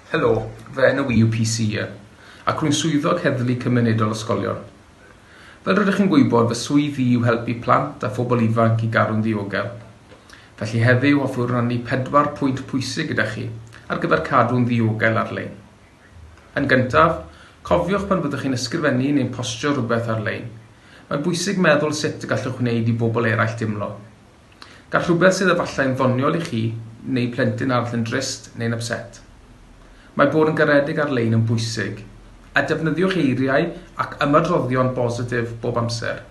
Helo, fy enw i yw PC Ian, ac rwy'n Swyddog Heddlu Cymunedol Ysgolion. Fel rydych chi'n gwybod, fy swydd i yw helpu plant a phobl ifanc i garu'n ddiogel. Felly heddiw hoffwn rannu pedwar pwynt pwysig gyda chi ar gyfer cadw'n ddiogel ar-lein. Yn gyntaf, cofiwch pan fyddwch chi'n ysgrifennu neu'n postio rhywbeth ar-lein, mae'n bwysig meddwl sut y gallwch wneud i bobl eraill deimlo. Gall rhywbeth sydd efallai'n ddoniol i chi neu plentyn arall yn drist neu'n ypset. Mae bod yn garedig ar-lein yn bwysig, a defnyddiwch eiriau ac ymadroddion bositif bob amser.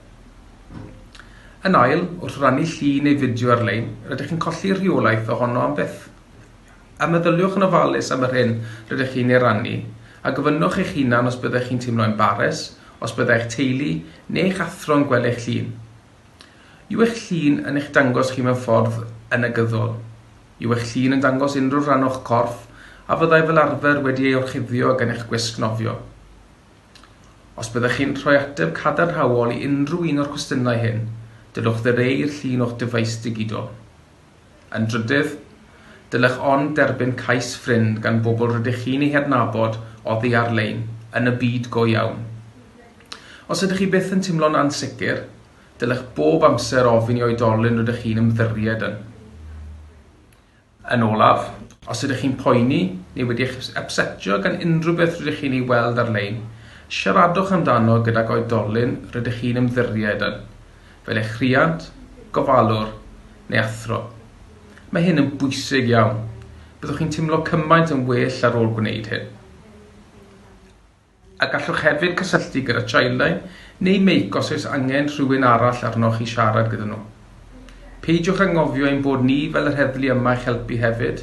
Yn ail, wrth rannu llun neu fideo ar-lein, rydych chi'n colli rheolaeth ohono am byth. A meddyliwch yn ofalus am yr hyn rydych chi'n ei rannu, a gofynnwch eich hunan os byddech chi'n teimlo embares os byddai'ch teulu neu'ch athro'n gweld eich llun. Yw eich llun yn eich dangos chi mewn ffordd yn negyddol? Yw eich llun yn dangos unrhyw rhan o'ch corff a fyddai fel arfer wedi ei orchuddio gan eich gwisg nofio? Os byddech chi'n rhoi ateb cadarnhaol i unrhyw un o'r cwestiynau hyn, dylwch ddireu i'r llun o'ch dyfais digidol. Yn drydydd, dylech ond derbyn cais ffrind gan bobl rydych chi'n eu hadnabod oddi ar-lein, yn y byd go iawn. Os ydych chi byth yn teimlo'n ansicr, dylech bob amser ofyn i oedolyn rydych chi'n ymddyried yn. Yn olaf, os ydych chi'n poeni neu wedi eich ypsetio gan unrhyw beth rydych chi'n ei weld ar-lein, siaradwch amdano gydag oedolyn rydych chi'n ymddyried yn. fel eich rhiant, gofalwr neu athro. Mae hyn yn bwysig iawn. Byddwch chi'n teimlo cymaint yn well ar ôl gwneud hyn. A gallwch hefyd cysylltu gyda Childline neu Make os oes angen rhywun arall arnoch i siarad gyda nhw. Peidiwch anghofio ein bod ni fel yr heddlu yma i'ch helpu hefyd.